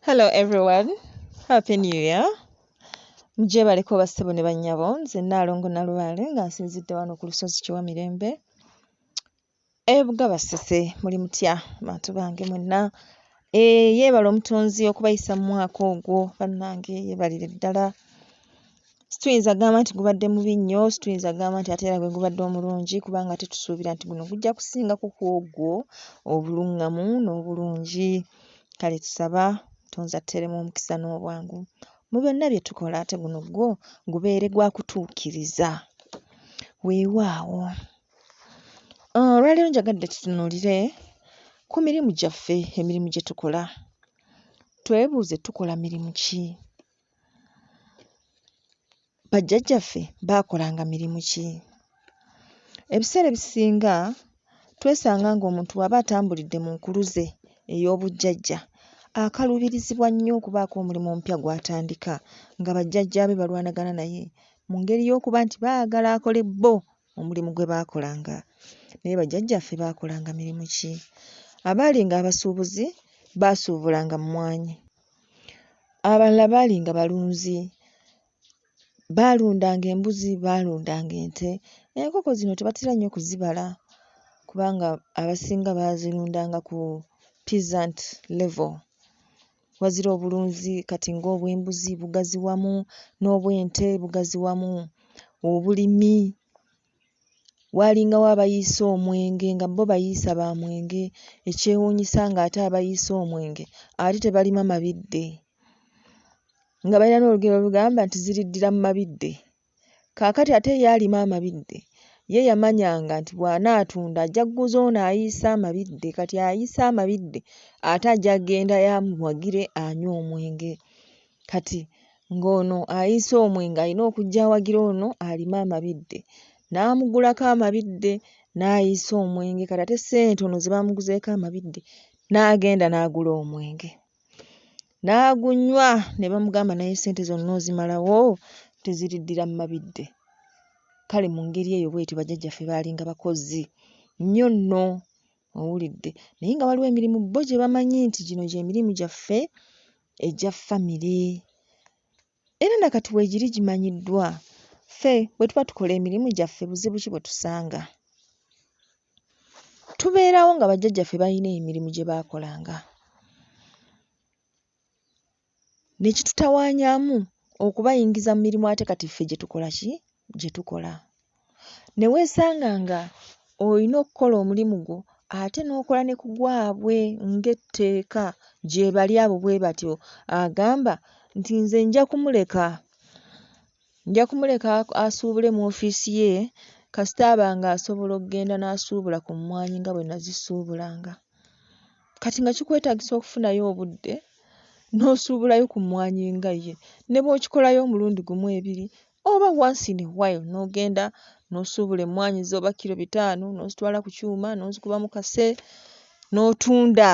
Hello everyone. Happy New Year. Mje bali ko basebo ne banyabo nze nalongo na lwale nga nsinzidde wano ku lusozi kiwa mirembe. Ebuga basese muli mutya bantu bange mwenna. E, yebala omutonzi okubayisa mu mwaka ogwo bannange yebalire ddala. situyinza gamba nti gubadde mubi nnyo situyinza gamba nti ate era gwe gubadde omulungi kubanga ate tusuubira nti guno gujja kusingako ku ogwo obuluŋŋamu n'obulungi kale tusaba tonzi atteremu omukisa n'obwangu mu byonna bye tukola ate guno gwo gubeere gwa kutuukiriza weewaawo ah, olwaleero njagadde tutunuulire ku mirimu gyaffe emirimu gye tukola twebuuze tukola mirimu ki Bajjajjaffe baakolanga mirimu ki? Ebiseera ebisinga twesanga ng'omuntu bw'aba atambulidde mu nkuluze ey'obujjajja akaluubirizibwa nnyo okubaako omulimu omupya gw'atandika nga bajjajjaabe balwanagana naye mu ngeri y'okuba nti baagala akole bo omulimu gwe baakolanga. Naye bajjajjaffe baakolanga mirimu ki? Abaalinga abasuubuzi baasuubulanga mmwanyi. Abalala baali nga balunzi, baalundanga embuzi, baalundanga ente. Enkoko zino tebatera nnyo kuzibala kubanga abasinga baazirundanga ku peasant level, wazira obulunzi kati ng'obw'embuzi bugazi wamu, n'obw'ente bugazi wamu, obulimi. waalingawo abayiisa omwenge nga bo bayiisa ba mwenge ekyewuunyisa ng'ate abayiisa omwenge ate tebalima mabidde nga balina n'olugero olugamba nti ziriddira mu mabidde kaakati ate ye alima amabidde ye yamanyanga nti bw'anaatunda ajja kuguza ono ayiisa amabidde kati ayiisa amabidde ate ajja kugenda amuwagire anywe omwenge. Kati ng'ono ayinsa omwe ng'alina okujja awagira ono alima amabidde n'amugulako amabidde n'ayiisa omwenge kati ate ssente ono ze baamuguzeeko amabidde n'agenda n'agula omwenge n'agunywa ne bamugamba naye ssente zonna ozimalawo nti ziriddira mu mabidde. Kale mu ngeri eyo bw'etyo bajjajjaffe baalinga bakozi nnyo nno owulidde naye nga waliwo emirimu bo gye bamanyi nti gino gy'emirimu gyaffe egya famire era na kati weegiri gimanyiddwa. Ffe bwe tuba tukola emirimu gyaffe buzibu ki bwe tusanga? Tubeerawo nga bajjajjaffe balina emirimu gye baakolanga ne kitutawaanyaamu okubayingiza mu mirimu ate kati ffe gye tukola ki? Gye tukola. ne weesanga ng'olina okukola omulimu gwo ate n'okola ne ku gwabwe ng'etteeka gyebali abo bwe batyo agamba nti nze nja kumuleka nja kumuleka asuubule mu ofiisi ye kasita aba ng'asobola okugenda n'asuubula ku mmwanyi nga bwe nazisuubulanga kati nga kikwetagisa okufunayo obudde n'osuubulayo ku mmwanyi nga ye ne bw'okikolayo omulundi gumu ebiri oba once in a while n'ogenda n'osuubula emmwaanyi zo oba kkiro bitaano n'ozitwala ku kyuma n'ozikuba mu kase n'otunda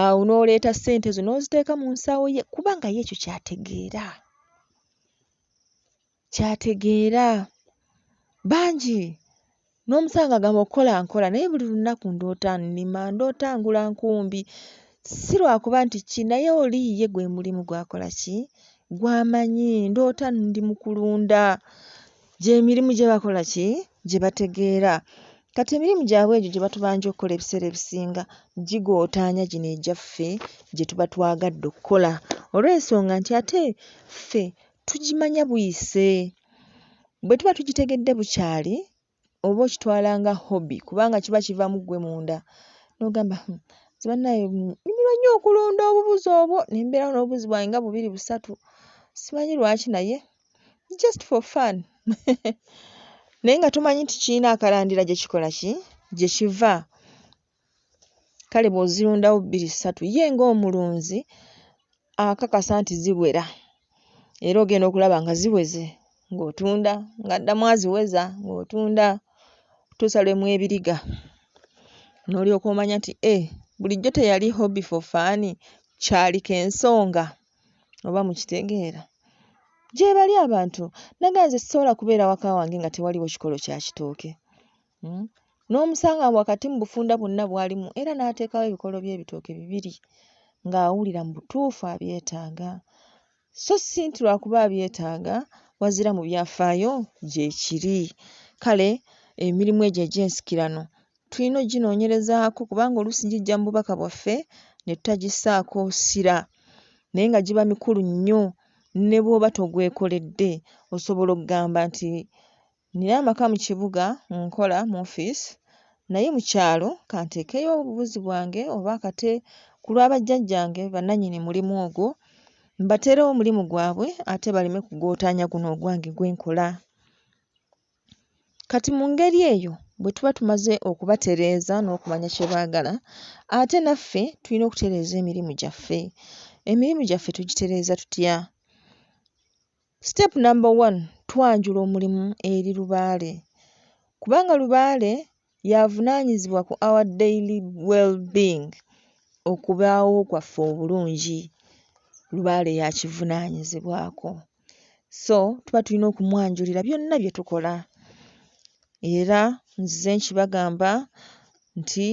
awo n'oleeta ssente zo n'oziteeka mu nsawo ye kubanga ye ekyo kyategeera kyategeera bangi N'omusawo ng'agamba okukola nkola naye buli lunaku ndoota nnima, ndoota ngula nkumbi. Si lwa kuba nti ki naye oli ye gwe mulimu gw'akola ki gw'amanyi. Ndoota ndi mu kulunda, gy'emirimu gye bakola ki gye bategeera. Kati emirimu gyabwe egyo gye batubanja okukola ebiseera ebisinga gigootaanya gino egyaffe gye tuba twagadde okukola olw'ensonga nti ate ffe tugimanya buyise. Bwe tuba tukitegedde bukyali oba okitwala nga hobby kubanga kiba kiva mu ggwe munda n'ogamba hmm, nze bannaaye nnyumirwa nnyo okulunda obubuzi obwo ne mbeerawo n'obubuzi bwange nga bubiri busatu simanyi lwaki naye just for fun naye nga tomanyi nti kirina akalandira gye kikola ki gye kiva Kale bw'ozirundawo bbiri ssatu ye ng'omulunzi akakasa nti ziwera era ogenda okulaba nga ziweze ng'otunda ng'addamu aziweza ng'otunda okutuusa lwe mwebiriga n'olyoka omanya nti ee bulijjo teyali hobby for fun kyali kensonga oba mukitegeera? Gyebali abantu naye nga nze sisobola kubeera waka wange nga tewaliwo kikolo kya kitooke Hmm? N'omusanga wakati mu bufunda bwonna bwalimu era n'ateekawo ebikolo by'ebitooke bibiri ng'awulira mu butuufu abyetaaga so si nti lwakuba abyetaaga wazira mu byafaayo gyekiri. Kale emirimu egyo egy'ensikirano tulina okuginoonyerezaako kubanga oluusi gijja mu bubaka bwaffe ne tutagissaako ssira naye nga giba mikulu nnyo ne bw'oba togwekoledde osobola okugamba nti Nnina amaka mu kibuga, nkola mu ofiisi naye mu kyalo ka nteekeyo obubuzi bwange oba akate ku lwa bajjajjange bannannyini mulimu ogwo mbateerewo omulimu gwabwe ate baleme kugootaanya guno ogwange gwe nkola. Kati mu ngeri eyo bwe tuba tumaze okubatereeza n'okumanya kye baagala ate naffe tulina okutereeza emirimu gyaffe. Emirimu gyaffe tugitereeza tutya? Step number one twanjula omulimu eri lubaale kubanga lubaale y'avunaanyizibwa ku our daily well being okubaawo kwaffe obulungi lubaale y'akivunaanyizibwako so tuba tulina okumwanjulira byonna bye tukola era nzize nkibagamba nti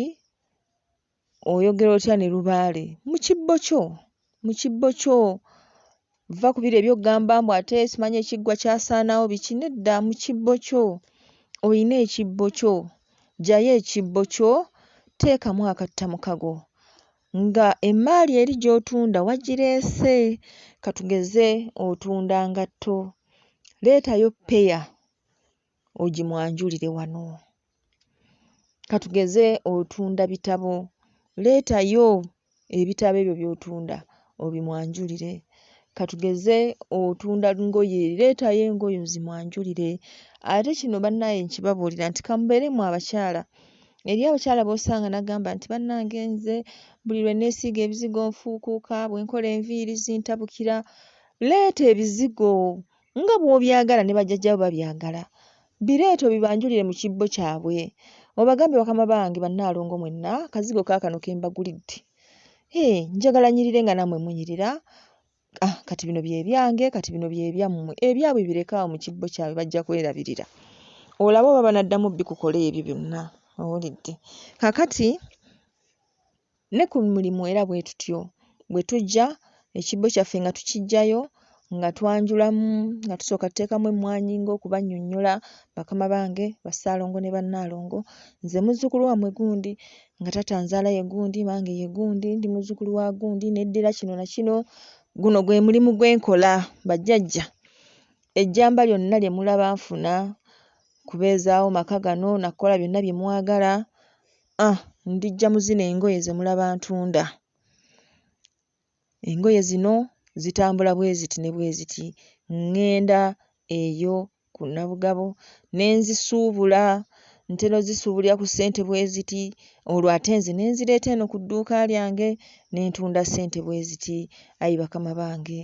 Oyogera otya ne lubaale mu kibbo kyo? Mu kibbo kyo? Vva ku biri eby'oggamba mbu ate simanyi ekiggwa kyasaanawo biki. Nedda mu kibbo kyo. Oyina ekibbo kyo. Ggyayo ekibbo kyo, teekamu akattamukago nga emmaali eri gy'otunda wagireese. Ka tugeze otunda ngatto. Leetayo ppeya ogimwanjulire wano. Ka tugeze otunda bitabo, leetayo ebitabo ebyo by'otunda obimwanjulire. Ka tugeze otunda ngoye, leetayo engoye ozimwanjulire. Ate kino bannaaye nkibabuulira nti ka mubeere mmwe abakyala, eriyo abakyala b'osanga n'agamba nti bannange nze buli lwe neesiiga ebizigo nfuukuuka, bwe nkola enviiri zintabukira. Leeta ebizigo Nga bw'obyagala ne bajjajja bo babyagala. Bireete obibanjulire mu kibbo kyabwe. Obagambe bakama bange bannaalongo mwenna kazigo kaakano ke mbagulidde. Hee, njagala nnyirire nga nammwe munyirira. Ah, kati bino bye byange, kati bino bye byammwe. Ebyabwe bireke awo mu kibbo kyabwe bajja kwerabirira. Olabe oba banaddamu bikukola ebyo byonna. Owulidde? Kaakati. Ne ku mulimu era bwe tutyo. Bwe tujja, ekibbo kyaffe nga tukiggyayo, nga twanjulamu, nga tusooka tuteekamu emmwanyi ng'okubannyonnyola, bakama bange, bassaalongo ne bannaalongo, nze muzzukulu wammwe gundi, nga taata anzaala ye gundi, mange ye gundi, ndi muzzukulu wa gundi, neddira kino na kino. Guno gwe mulimu gwe nkola, bajjajja. Ejjamba lyonna lye mulaba nfuna, kubeezaawo maka gano na kukola byonna bye mwagala, Uh ndijja mu zino engoye ze mulaba ntunda. Engoye zino zitambula bwe ziti ne bwe ziti. Ŋŋenda eyo ku Nabugabo ne nzisuubula. Ntera ozisuubulira ku ssente bwe ziti olwo ate nze ne nzireeta eno ku dduuka lyange ne ntunda ssente bwe ziti. Ayi bakama bange!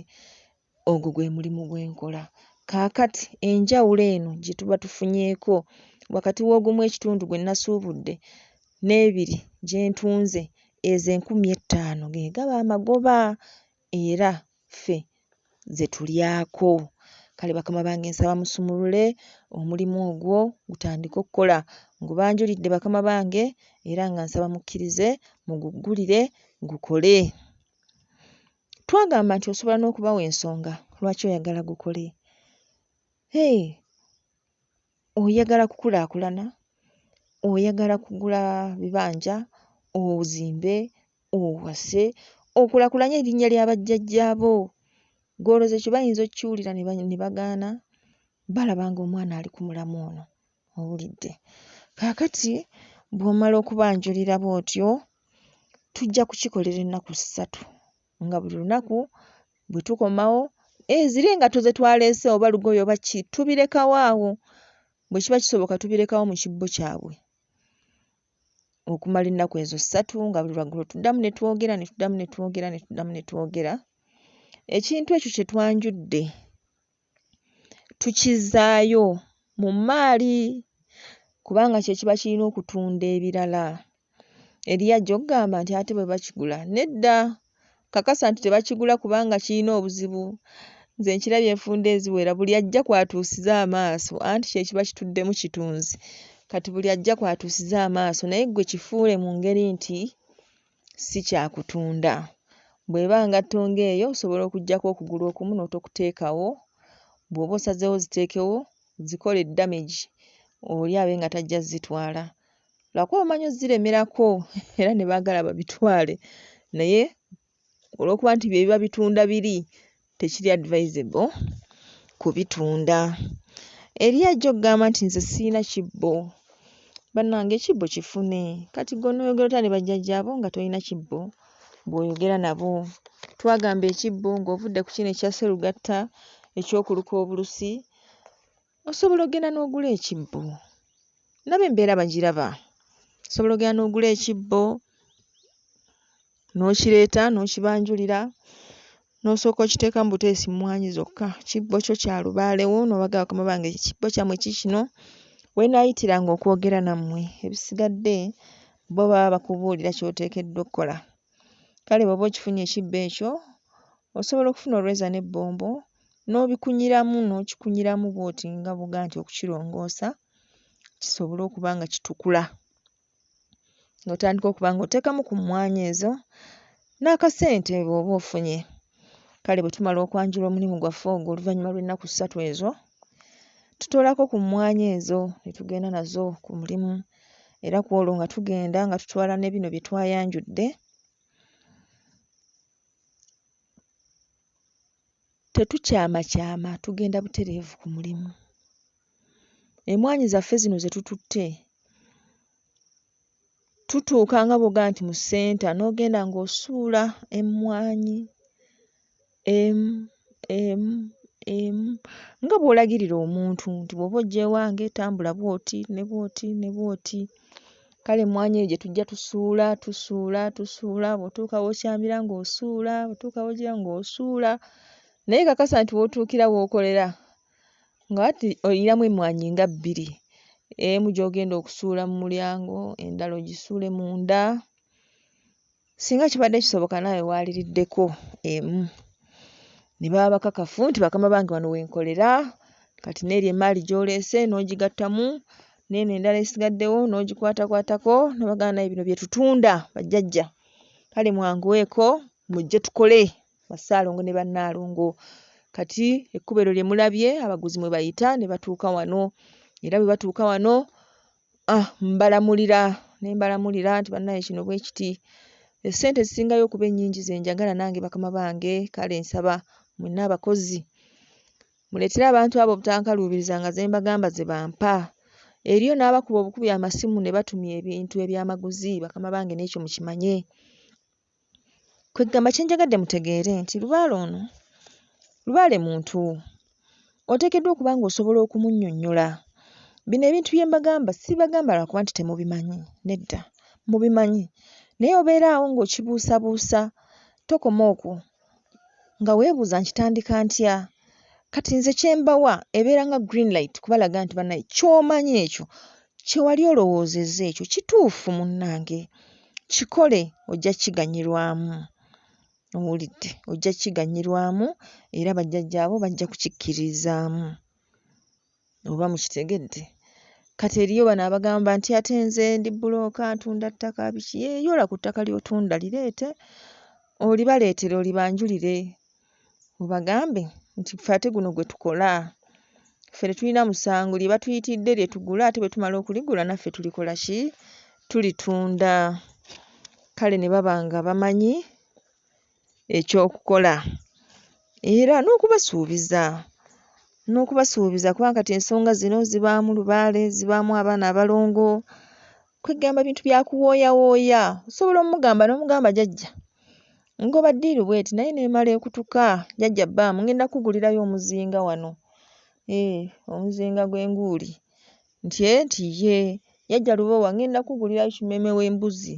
Ogwo gwe mulimu gwe nkola. Kaakati, enjawulo eno gye tuba tufunyeeko wakati w'ogumu ekitundu gwe nnasuubudde n'ebiri gye ntunze, ezo enkumi ettaano ge gaba amagoba, era ffe ze tulyako. Kale, bakama bange, nsaba musumulule omulimu ogwo gutandike okukola. Ngubanjulidde, bakama bange, era nga nsaba mukkirize muguggulire gukole. Twagamba nti osobola n'okubawa ensonga lwaki oyagala gukole. Hey, oyagala kukulaakulana, oyagala kugula bibanja, ozimbe, owase, okulakulanye erinnya lya bajjajjaabo. Gw'olooza ekyo bayinza okkiwulira ne bagaana? Balaba ng'omwana ali ku mulamwa ono. Owulidde? Kaakati bw'omala okubanjulira bw'otyo, tujja kukikolera ennaku ssatu, nga buli lunaku bwe tukomawo, eh, ziri engatto ze twaleese oba lugoye oba ki, tubirekawo awo, bwe kiba kisoboka tubirekawo mu kibbo kyabwe okumala ennaku ezo ssatu, nga buli lwaggulo tuddamu ne twogera, ne tuddamu ne twogera, ne tuddamu ne twogera. Ekintu ekyo kye twanjudde. tukizzaayo mu mmaali kubanga kye kiba kirina okutunda ebirala. Eriyo ajja okugamba nti ate bwe bakigula. Nedda, nkakasa nti tebakigula kubanga kirina obuzibu. Nze nkirabye enfunda eziwera buli ajja kw'atuusiza amaaso anti kye kiba kituddemu kitunzi kati buli ajja kw'atuusiza amaaso naye ggwe kifuule mu ngeri nti. si kya kutunda. Bw'eba ngatto ng'eyo osobola okuggyako okugulu okumu n'otokuteekawo, bw'oba osazeewo oziteekewo zikole damage oli abe nga tajja kuzitwala lwakuba bamanyi ozziremerako era ne baagala babitwale naye olw'okuba nti bye biba bitunda biri tekiri advisable kubitunda eri ajja okugamba nti nze sirina kibbo banange ekibbo kifune kati gonoyogera otya ne bajjajjaabo nga tolina kibbo bwoyogera nabo twagamba ekibbo ng'ovudde ku kino ekya serugatta ekyokuluka obulusi Osobola ogenda n'ogula ekibbo. Nabo embeera bagiraba. Osobola ogenda n'ogula ekibbo n'okireeta n'okibanjulira n'osooka okiteekamu buteesi mmwanyi zokka. Kibbo kyo kya lubaale wo n'obagamba bakama bange ekibbo kyammwe kiikino. We naayitiranga okwogera nammwe ebisigadde bo baba bakubuulira ky'oteekeddwa okukola. Kale bw'oba okifunye ekibbo ekyo, osobola okufuna olweza n'ebbombo n'obikunyiramu n'okikunyiramu bw'oti nga bw'ogamba nti okukirongoosa kisobole okuba nga kitukula. N'otandika okuba ng'oteekamu ku mmwanyi ezo n'akasente bw'oba ofunye. Kale bwe tumala okwanjula omulimu gwaffe ogwo oluvannyuma lw'ennaku ssatu ezo, Tutoolako ku mmwanyi ezo ne tugenda nazo ku mulimu era ku olwo nga tugenda nga tutwala ne bino bye twayanjudde. Tetukyamakyama, tugenda butereevu ku mulimu. Emmwaanyi zaffe zino ze tututte tutuuka nga bw'ogamba nti mu ssenta n'ogenda ng'osuula emmwanyi emu emu emu nga bw'olagirira omuntu nti bw'oba ojja ewange tambula bw'oti ne bw'oti ne bw'oti. Kale emmwanyi eyo gye tujja tusuula tusuula tusuula bw'otuuka w'okyamira ng'osuula bw'otuuka w'ogira ng'osuula naye kakasa nti w'otuukira w'okolera nga ati oyinamu emmwanyi nga bbiri, emu gy'ogenda okusuula mu mulyango endala ogisuule munda singa kibadde kisoboka naawe waaliriddeko emu ne baba bakakafu nti bakama bange wano we nkolera kati n'eri emmaali gy'oleese n'ogigattamu n'eno endala esigaddewo n'ogikwatakwatako ne bagamba naaye bino bye tutunda bajjajja kale mwanguweeko mujje tukole. Bassaalongo ne Bannaalongo. Kati ekkubo eryo lye mulabye abaguzi mwe bayita ne batuuka wano era bwe batuuka wano ah, mbalamulira ne mbalamulira nti bannaye kino bwe kiti essente ezisingayo okuba ennyingi ze njagala nange bakama bange kale nsaba mwenna abakozi muleetere abantu abo obutankaluubiriza nga ze mbagamba ze bampa eriyo n'abakuba obukubi amasimu ne batumya ebintu ebyamaguzi bakama bange n'ekyo mukimanye Kweggamba kye njagadde mutegeere nti lubaale ono lubaale muntu oteekeddwa okuba ng'osobola okumunnyonnyola. Bino ebintu bye mbagamba sibibagamba lwa kuba nti temubimanyi, nedda mubimanyi naye obeera awo ng'okibuusabuusa tokoma okwo nga weebuuza nkitandika ntya kati nze kye mbawa ebeera nga green light kubalaga nti banaye ky'omanyi ekyo kye wali olowoozezza ekyo kituufu munnange kikole ojja kiganyirwamu owulidde ojja kiganyirwamu era bajjajjaabo bajja kukikkiririzaamu. oba mukitegedde kati eriyo bano abagamba nti ate nze ndi bbulooka ntunda ttaka biki yee yoola ku ttaka ly'otunda lireete olibaleetere olibanjulire obagambe nti ffe ate guno gwe tukola ffe tetulina musango lye batuyitidde lye tugula ate bwe tumala okuligula naffe tulikola ki tulitunda kale ne baba nga bamanyi eky'okukola era n'okubasuubiza n'okubasuubiza kuba kati ensonga zino zibaamu lubaale, zibaamu abaana abalongo, kweggamba bintu bya kuwooyawooya. Osobola omugamba n'omugamba jajja ngoba ddiiru bw'eti naye n'emala ekutuka, jajja bbaamu ng'enda kukugulirayo omuzinga wano, hee omuzinga gw'enguuli. Nti ee eh, nti yee Jajja Lubowa ngenda kugulirayo kimeeme w'embuzi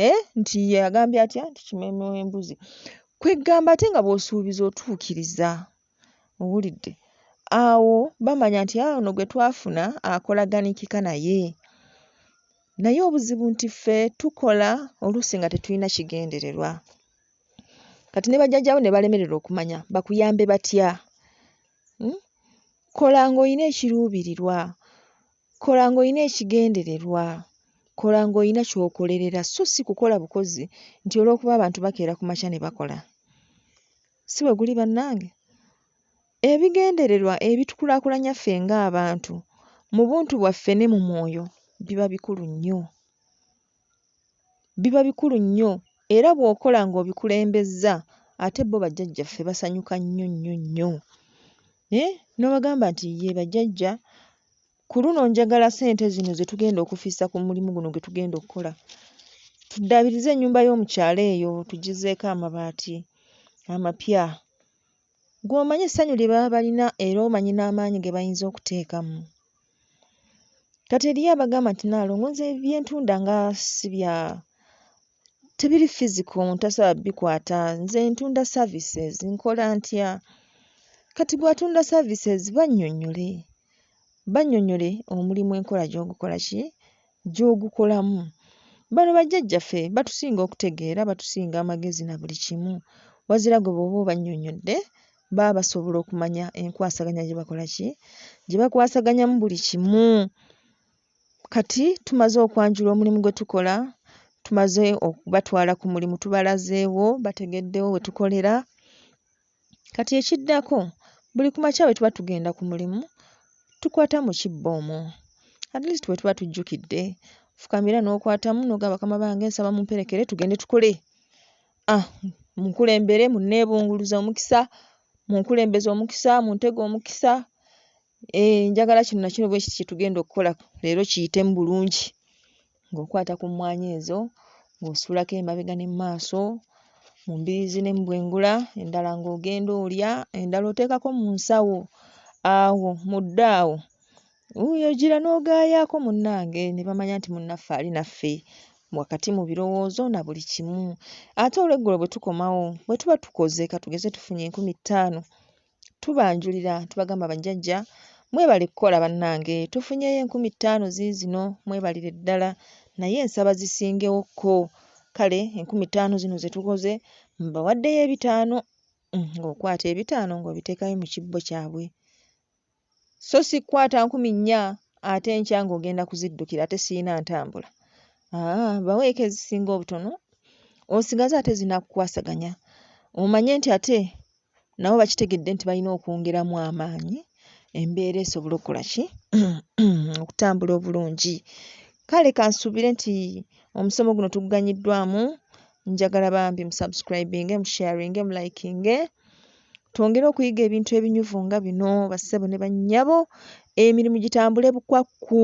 ee eh, nti ye agambye atya nti kimeeme w'embuzi kweggamba ate nga bw'osuubiza otuukiriza owulidde awo bamanya nti aa ah, ono gwe twafuna akolaganiikika naye naye obuzibu nti ffe tukola oluusi nga tetulina kigendererwa kati ne bajjajjabo ne balemererwa okumanya bakuyambe batya hmm? Kola ng'olina ekiruubirirwa. Kola ng'olina ekigendererwa. Kola ng'olina ky'okolerera so si kukola bukozi nti olw'okuba abantu bakeera ku makya ne bakola. Si bwe guli bannange? Ebigendererwa ebitukulaakulanya ffe ng'abantu mu buntu bwaffe ne mu mwoyo biba bikulu nnyo. biba bikulu nnyo era bw'okola ng'obikulembezza ate bo bajjajjaffe basanyuka nnyo nnyo nnyo eeh n'obagamba nti yee bajjajja ku luno njagala ssente zino ze tugenda okufissa ku mulimu guno gwe tugenda okukola tuddaabirize ennyumba yo mu kyalo eyo tugizzeeko amabaati amapya Ggwe omanyi essanyu lye baba balina era omanyi n'amaanyi ge bayinza okuteekamu. Kati eriyo abagamba nti Nnaalongo nze bye ntunda nga si bya tebiri physical omuntu tasobola bikwata nze ntunda services nkola ntya kati gw'atunda services bannyonnyole bannyonnyole omulimu enkola gy'ogukola ki gy'ogukolamu. Bano bajjajjaffe batusinga okutegeera, batusinga amagezi na buli kimu wazira gwe bw'oba obannyonnyodde baba basobola okumanya enkwasaganya gye bakola ki, gye bakwasaganyamu buli kimu. Kati tumaze okwanjula omulimu gwe tukola, tumaze okubatwala ku mulimu tubalazeewo bategeddewo we tukolera Kati ekiddako buli ku makya bwe tuba tugenda ku mulimu tukwata mu kibbo omwo at least bwe tuba tujjukidde fukamira n'okwatamu n'ogamba bakama bange nsaba mumperekere tugende tukole ah munkulembere munneebunguluze omukisa munkulembeze omukisa muntege omukisa Eeh njagala kino na kino bwe kiti kye tugenda okukola leero kiyitemu bulungi ng'okwata ku mmwanyi ezo ng'osuulako emabega ne mu maaso, mu mbiriizi ne mu bwengula, endala ng'ogenda olya, endala oteekako mu nsawo awo mu ddo awo. Wuuyo ojjira n'ogaayaako munnange ne bamanya nti munnaffe ali naffe wakati mu birowoozo na buli kimu. Ate olweggulo bwe tukomawo bwe tuba tukoze ka tugeze tufunye enkumi ttaano tubanjulira tubagamba bajjajja mwebale kukola bannange tufunyeyo enkumi ttaano ziizino mwebalire ddala naye nsaba zisingewokko kale enkumi ttaano zino ze tukoze mbawaddeyo ebitaano mm, ng'okwata ebitaano ng'obiteekayo mu kibbo kyabwe so si kukwata nkumi nnya ate enkya ng'ogenda kuziddukira ate sirina ntambula. Aa baweeko ezisinga obutono osigaze ate zinakukwasaganya omanye nti ate nabo bakitegedde nti balina okwongeramu amaanyi embeera esobole okukola ki okutambula obulungi. Kale kansuubire nti omusomo guno tuguganyiddwamu njagala bambi musubscribinge musharinge mulayikinge. Twongere okuyiga ebintu ebinyuvu nga bino bassebo ne bannyabo, emirimu gitambule bukwakku.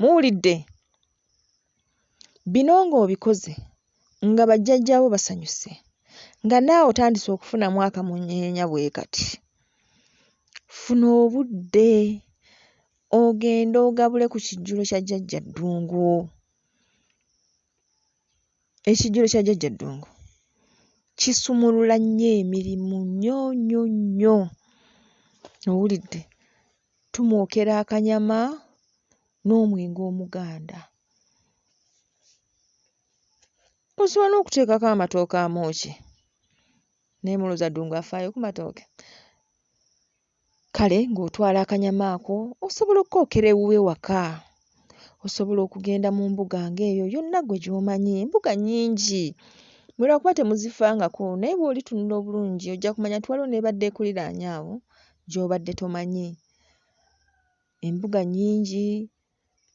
Muwulidde? Bino ng'obikoze nga bajjajjaabo basanyuse, nga naawe otandise okufunamu akamunyeenya bwe kati, funa obudde ogende ogabule ku kijjulo kya Jjajja Ddungu. Ekijjulo kya Jajja Ddungu kisumulula nnyo emirimu nnyo nnyo nnyo. Owulidde? Tumwokera akanyama n'omwenge omuganda. Osobola n'okuteekako amatooke amookye. Naye mulowooza Ddungu afaayo ku matooke? Kale ng'otwala akanyama ako osobola okukookera ewuwe waka. Osobola okugenda mu mbuga ng'eyo yonna ggwe gy'omanyi, embuga nnyingi mwe lwa kuba temuzifangako naye bw'olitunula obulungi ojja kumanya nti waliwo n'ebadde ekuliraanye awo gy'obadde tomanyi. Embuga nnyingi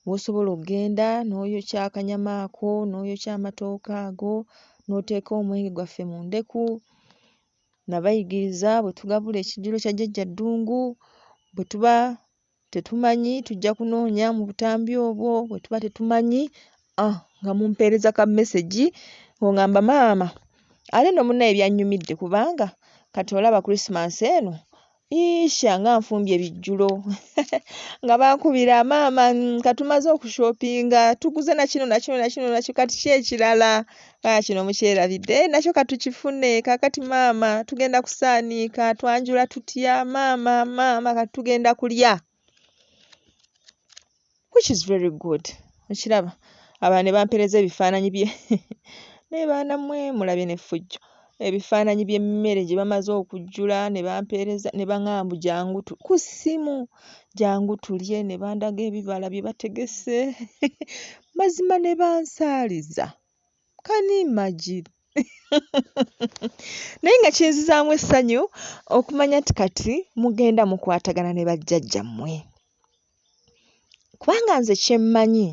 w'osobola okugenda n'oyokya akanyama ako, n'oyokya amatooke ago, n'oteeka omwenge gwaffe mu ndeku. Nabayigiriza bwe tugabula ekijjulo kya Jjajja Ddungu, bwe tuba tetumanyi tujja kunoonya mu butambi obwo, bwe tuba tetumanyi ah nga mumpeereza ka mesegi ng'ong'amba maama ate nno munnaye byannyumidde kubanga kati olaba Kulisimansi eno Iisha nga nfumbye bijjulo nga bankubira maama mm, katumaze okushopinga tuguze nakino nakino nakino nakyo kati ki ekirala ah, kino mukyerabidde eh, nakyo katukifune kakati maama tugenda kusaaniika twanjula tutya maama maama kati tugenda kulya which is very good okiraba aba ne bampereza ebifaananyi bye naye baana mwe mulabye n'effujjo ebifaananyi by'emmere gye bamaze okujjula ne bampeereza ne baŋamba mbu jangu ku ssimu jangu tulye ne bandaga ebibala bye bategese mazima ne bansaaliza can you imagine naye nga kinzizaamu essanyu okumanya nti kati mugenda mukwatagana ne bajjajja mmwe kubanga nze kyemmanyi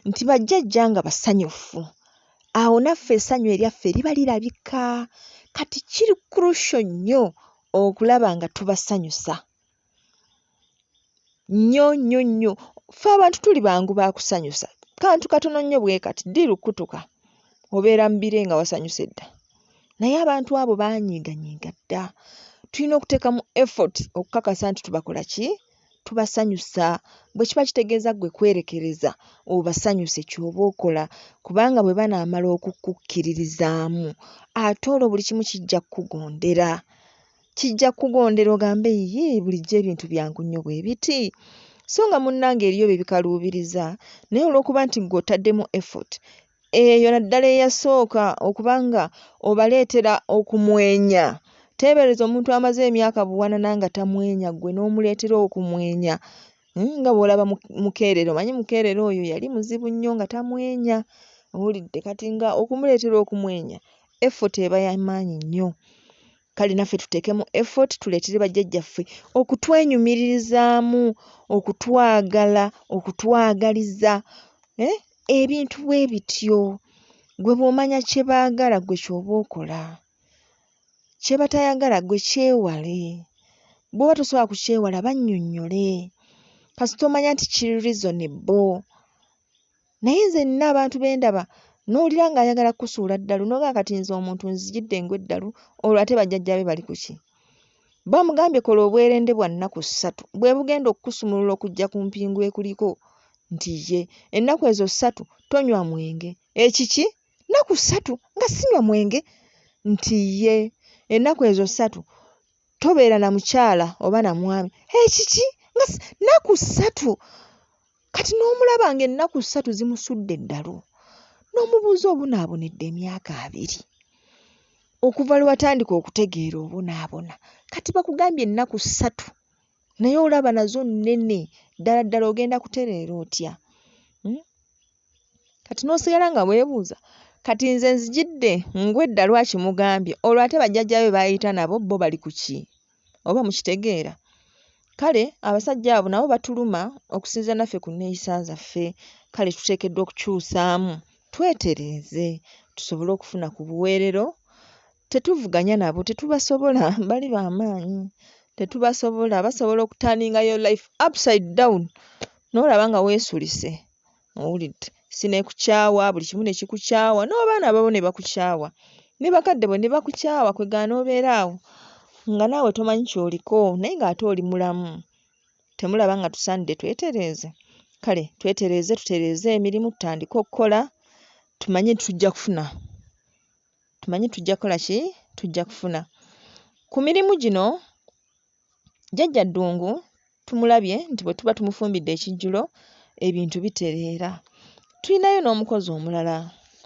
nti bajjajja nga basanyufu awo naffe essanyu eryaffe liba lirabika kati kiri krusho nnyo okulaba nga tubasanyusa nnyo nnyo nnyo ffe abantu tuli bangu bakusanyusa kantu katono nnyo bwe kati ddi lukutuka obeera mu bire nga wasanyuse dda naye abantu abo banyiiganyiiga dda tulina okuteeka mu effort okukakasa nti tubakola ki tubasanyusa bwe kiba kitegeeza ggwe kwerekereza obasanyuse ky'oba okola kubanga bwe banaamala okukukkiririzaamu ate olwo buli kimu kijja kukugondera kijja kugondera ogambe yiyii bulijjo ebintu byangu nnyo bwe biti so nga munnange eriyo bye bikaluubiriza naye olw'okuba nti ggwe otaddemu effort eyo naddala eyasooka okuba nga obaleetera okumwenya teebereza omuntu amaze emyaka buwanana nga tamwenya ggwe n'omuleetera okumwenya hmm, nga bw'olaba mukeerero manyi mukeerero oyo yali muzibu nnyo nga tamwenya owulidde kati nga okumuleetera okumwenya effort eba yamaanyi nnyo kale naffe tuteekemu effort tuleetere bajjajjaffe okutwenyumiririzaamu okutwagala okutwagaliza eh, ebintu bwe bityo gwe bw'omanya kye baagala gwe ky'oba okola kye batayagala gwe kyewale bw'oba tosobola kukyewala bannyonnyole kasita omanya nti kiri reasonable Naye nze nina abantu bendaba nowulira nga ayagala kusuula ddalu nogaa kati nze omuntu nzijidde ngu eddalu olwo ate bajjajja be bali kuki bamugambye kola obwerende bwa nnaku ssatu bwe bugenda okukusumulula okujja ku mpingu ekuliko nti ye ennaku ezo ssatu tonywa mwenge ekiki nnaku ssatu nga sinywa mwenge nti ye ennaku ezo ssatu tobeera na mukyala oba na mwami ekiki nga nnaku ssatu Kati n'omulaba ng'ennaku ssatu zimusudde eddalu n'omubuuza obunaabonedde emyaka abiri okuva lwe watandika okutegeera obonaabona kati bakugambye ennaku ssatu naye olaba nazo nnene ddala ddala ogenda kutereera otya hmm? kati n'osigala nga weebuuza kati nze nzijidde ngwedda lwaki mugambye olwo ate bajjajjabe baayita nabo bo bali ku ki oba mukitegeera kale abasajja abo nabo batuluma okusinziira naffe ku nneeyisa zaffe kale tuteekeddwa okukyusaamu twetereeze tusobole okufuna ku buweerero tetuvuganya nabo tetubasobola bali ba maanyi tetubasobola basobola okutaningayo life upside down n'olaba nga weesulise Owulidde? Si ne kukyawa, buli kimu ne kikukyawa, n'abaana babo ne bakukyawa, ne bakadde bo ne bakukyawa, kwe gaana obeere awo nga naawe tomanyi ky'oliko naye ng'ate oli mulamu. Temulaba nga tusaanidde twetereeze? Kale twetereeze, tutereeze emirimu, tutandike okukola, tumanye nti tujja kufuna. Tumanye tujja kukola ki? Tujja kufuna. Ku mirimu gino Jjajja Ddungu tumulabye nti bwe tuba tumufumbidde ekijjulo ebintu bitereera. Tulinayo n'omukozi omulala,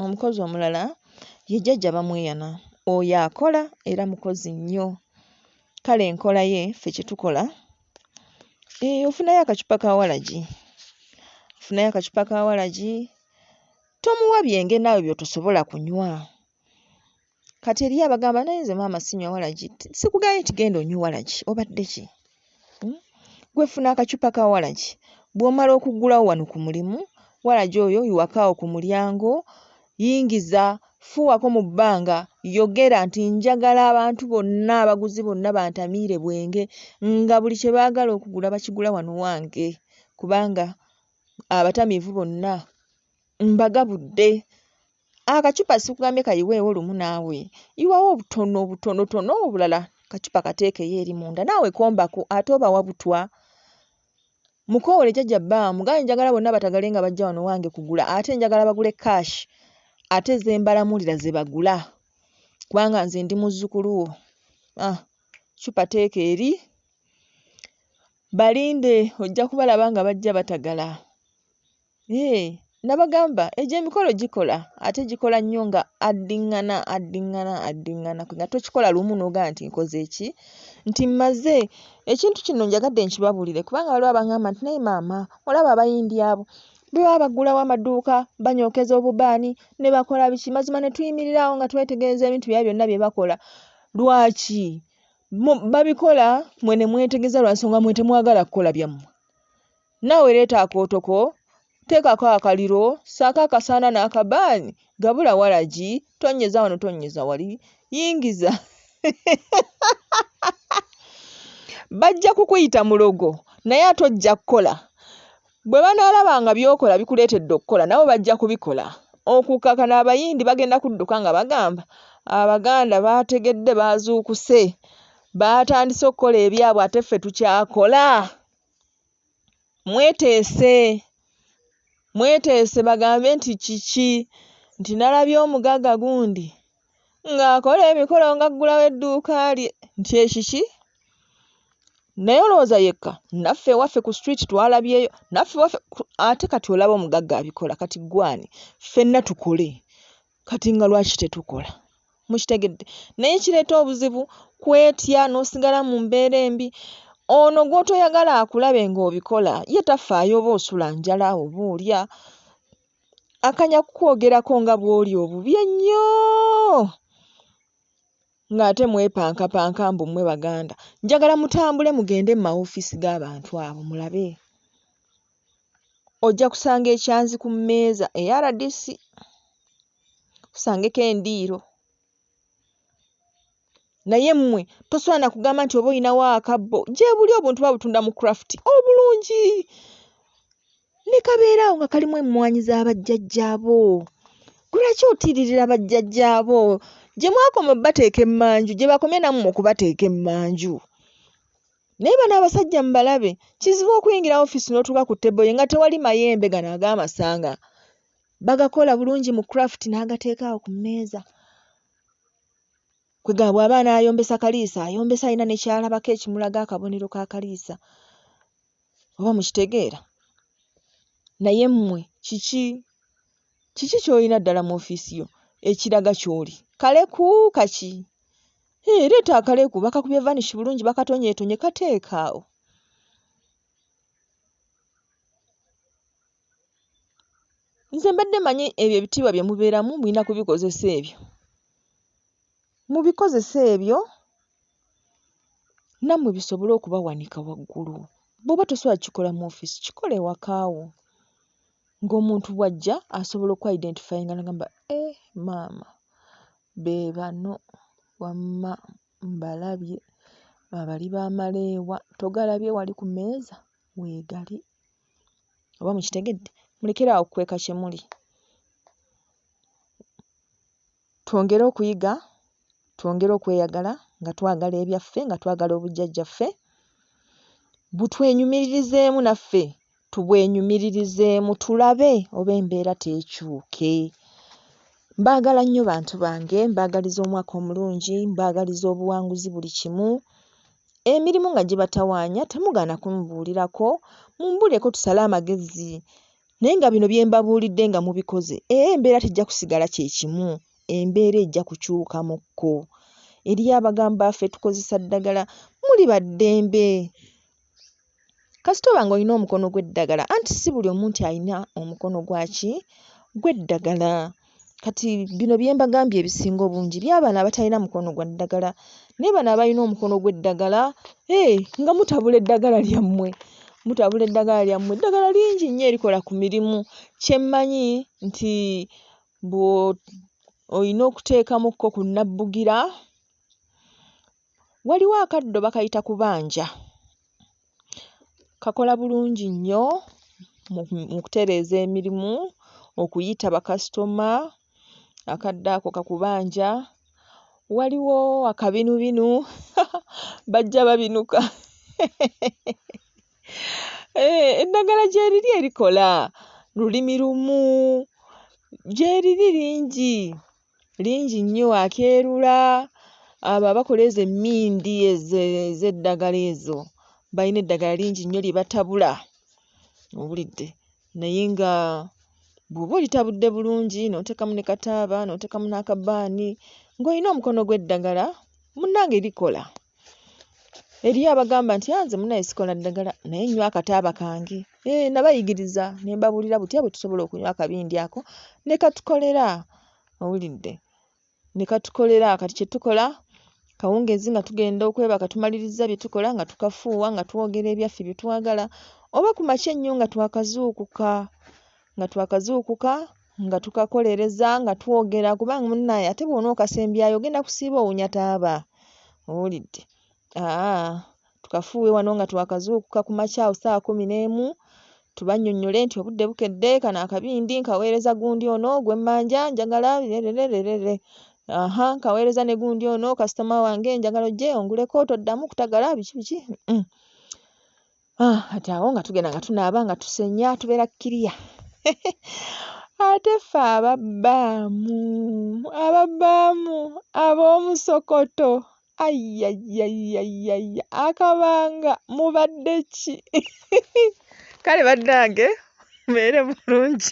omukozi omulala ye Jjajja Bamweyana. Oyo akola era mukozi nnyo. Kale enkola ye ffe kye tukola, ee ofunayo akacupa ka walagi, ofunayo akacupa ka walagi tomuwa byenge naawe by'otosobola kunywa. Kati eriyo abagamba naye nze maama sinywa walagi. Sikugambye nti genda onywe walagi. Obadde ki? Hmm? Gwe funa akacupa ka walagi. Bw'omala okuggulawo wano ku mulimu, walagi oyo iwakaawo ku mulyango, yingiza, fuuwako mu bbanga, yogera nti njagala abantu bonna abaguzi bonna bantamiire bwenge nga buli kye baagala okugula bakigula wano wange kubanga abatamiivu bonna mbagabudde akacupa sikugambye kayiweewo lumu naawe iwawo obutono obutonotono obulala kacupa kateekeyo eri munda naawe kombako ate obawa butwa mukoowole jajja baa mugaye njagala bonna batagale nga bajja wano wange kugula ate njagala bagule cash ate zembalamuulira ze bagula kubanga nze ndi muzzukulu wo ah, cupa teeka eri balinde ojja kubalaba nga bajja batagala Yee nabagamba egyo emikolo gikola ate gikola nnyo nga addingana addingana addingana nga tokikola lumu n'ogamba nti nkoze ki nti mmaze ekintu kino njagadde nkibabuulire kubanga waliwo abangamba nti naye maama olaba abayindi abo bwe baba baggulawo amaduuka banyookeza obubaani ne bakola biki mazima ne tuyimirira awo nga twetegereza ebintu byabwe byonna bye bakola lwaki babikola mwe ne mwetegereza lwa nsonga mwe temwagala kukola byammwe Naawe leeta akooto ko, teekako akaliro, ssaako akasaana n'akabaani, gabula walagi, tonnyeza wano tonnyeza wali, yingiza bajja kukuyita mulogo naye ate ojja kukola bwe banaalaba nga by'okola bikuleetedde okukola nabo bajja kubikola okukaka n'abayindi bagenda kudduka nga bagamba abaganda baategedde baazuukuse baatandise okukola ebyabwe ate ffe tukyakola mweteese mweteese bagambe nti kiki nti nalabye omugagga gundi ng'akola emikolo ng'aggulawo edduuka lye nti ekiki naye olowooza yekka naffe ewaffe ku street twalabyeyo naffe ewaffe ate kati olaba omugagga abikola kati ggwe ani ffenna tukole Kati nga lwaki tetukola? Mukitegedde? Naye ekireeta obuzibu kwetya n'osigala mu mbeera embi. Ono gw'otoyagala akulabe ng'obikola ye tafaayo oba osula njala oba olya, akanya kukwogerako nga bw'oli obubi ennyo ng'ate mwepankapanka mbu mmwe Baganda. Njagala mutambule mugende mu mawofiisi g'abantu abo mulabe. ojja kusanga ekyanzi ku mmeeza eya rdc, osangeko endiiro naye mmwe tosobola na kugamba nti oba olinawo akabbo gyebuli obuntu babutunda mu craft obulungi ne kabeera awo nga kalimu emmwanyi za bajjajjaabo lwaki otiiririra bajjajjaabo gye mwakoma bateeka emmanju gye bakomye nammwe okubateeka emmanju. Naye bano abasajja mubalabe kizibu okuyingira office notuuka ku table ye nga tewali mayembe gano agamasanga bagakola bulungi mu craft n'agateekaawo ku mmeeza kwe gaabwe abaana ayombesa kaliisa ayombesa alina nekyalabako ekimulaga akabonero ka kaliisa oba mukitegeera naye mmwe kiki Kiki ky'olina ddala mu ofiisi yo ekiraga ky'oli? Kaleku kaki? Hee, leeta akaleku. Bakakubye vanish bulungi, bakatonyeetonye. Kateeke awo. Nze mbadde manyi ebyo ebitiibwa bye mubeeramu mulina kubikozesa ebyo. Mubikozese ebyo nammwe bisobole okubawanika waggulu. Bw'oba tosobola kukikola mu ofiisi, kikole ewaka wo. ng'omuntu bw'ajja asobola oku identifyinga nagamba eeh maama be bano wamma mbalabye ba bali ba maleewa togalabye wali ku mmeeza weegali oba mukitegedde mulekere awo okukweka kye muli. Twongere okuyiga, twongere okweyagala nga twagala ebyaffe, nga twagala obujjajjaffe, butwenyumiririzeemu naffe tubwenyumiririzeemu tulabe oba embeera teekyuke. Mbaagala nnyo bantu bange, mbaagaliza omwaka omulungi, mbaagaliza obuwanguzi buli kimu. Emirimu nga gibatawaanya temugaana kumubuulirako, mumbuulireko tusale amagezi Naye nga bino bye mbabuulidde nga mubikoze, era embeera tejja kusigala kye kimu, embeera ejja kukyukamukko. Eriyo abagamba ffe tukozesa ddagala, muli ba ddembe. Kasita oba nga olina omukono gw'eddagala, anti si buli omu nti alina omukono gwa ki? Gw'eddagala. kati bino bye mbagambye ebisinga obungi by'abaana abatalina mukono gwa ddagala naye bano abalina omukono gw'eddagala hey, eh, nga mutabula eddagala lyammwe mutabula eddagala lyammwe eddagala lingi nnyo erikola ku mirimu kyemmanyi nti olina okuteekamukko ku nnabbugira waliwo akaddo bakayita kubanja Kakola bulungi nnyo mu mu kutereeza emirimu, okuyita bakasitoma, akadde ako kakubanja, waliwo akabinubinu haha bajja babinuka hehehehe eeh eddagala gyeriri erikola lulimi lumu gyeriri lingi lingi nnyo akeerula abo abakola ezo emmindi ezo ez'eddagala ezo bayina eddagala lingi nnyo lye batabula owulidde naye nga bw'oba olitabudde bulungi n'oteekamu ne kataaba n'oteekamu n'akabaani ng'olina omukono gw'eddagala munnange likola. eriyo abagamba nti anze ah, munaye sikola ddagala naye nywa akataaba kange e, nabayigiriza ne mbabuulira butya bwe tusobola okunywa akabindi ako ne katukolera owulidde ne katukolera kati kye tukola kawungeezi nga tugenda okwebaka tumaliriza bye tukola nga tukafuuwa nga twogera ebyaffe bye twagala oba ku makya ennyo nga twakazuukuka nga twakazuukuka nga tukakolereza nga twogera kubanga munaye ate bwona okasembyayo ogenda kusiiba owunya taaba owulidde aa tukafuuwe wano nga twakazuukuka ku makyawo saawa kumi n'emu tubanyonyole nti obudde bukedde kano akabindi nkaweereza gundi ono gwemmanja njagala rerererere aha nkaweereza ne gundi ono kasitoma wange njagala ojje onguleko toddamu kutagala biki biki mm. Ah, kati awo nga tugenda nga tunaaba nga tusenya tubeera kiriya ate ffe ababbaamu ababbaamu ab'omusokoto ayyayyayyayya akabanga mubadde ki kale bannange mubeere bulungi